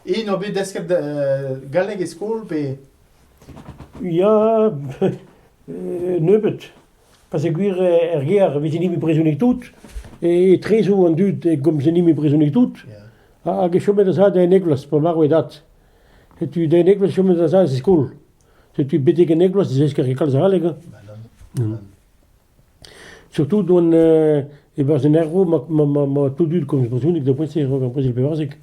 Int o bet desket galleg e skol pe? Ya, nebeut. Peogwir er gêr e veze-ni brezhoneg tout, etre zo an dud e gomze-ni brezhoneg tout, hag e chomet a-zad en Eglos, pa marv e dad. Setu den Eglos chomet a-zad e skol. Setu betek en Eglos e zesker kalz a galleg. Surtout d'hon euh e-barzh an ervro ma ma ma ma tou dud komz brezhoneg da poent-se a-raok ar brezel pevarzek.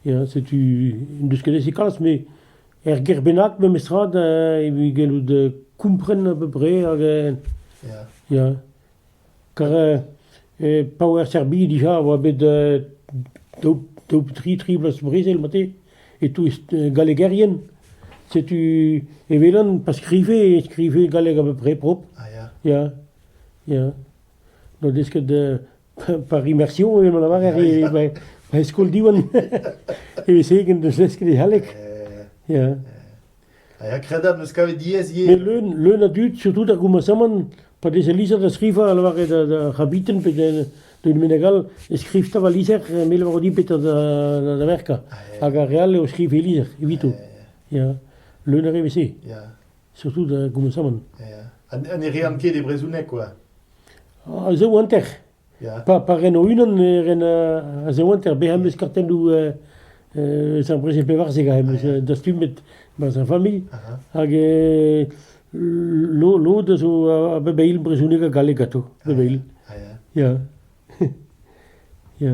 Ya, setu n'en deus ket aze kalz, met er gêr bennak memestra da evit gellout euh kompren a peu près hag euh Ya. ya. Kar euh e paour Serbie dija a oa bet euh daou daou tri tri bloaz brezel mate. E-touez gallegerien, setu e welan pa skrive e skrive galleg a-peu-prè propr. Ah ya. Ya, ya. N'o deus ket par immersion evel ma lavarer e ba- ba e skol Diwan. Evese ken n'eus desket e galleg. Ya. Ha kredabl am eus kavet diaes ivez. Met leun, leun a dud, surtout ar goumasamant, pa veze lizher da skrivañ, a lavare da- d'ar c'habiten pe da- d'un meneg all, e skriv 'ta va lizher, me 'levro dit petra da, da, da verkañ. Hag ar re all eo skriv e lizher, evito. Ya, leun a re vese, Ya, surtout da goumasamant. ya. Ha ha ne rean ket e brezhoneg, quoi. Ah, se eo hanter. Pa pa ren o-unan e ren a-ziwenter bezañ em eus kartennoù eus ar brezel pevarzek am eus dastumet barzh ar familh hag lod a zo a-bep eil brezhoneg ha galleg ganto bep eil ya ya.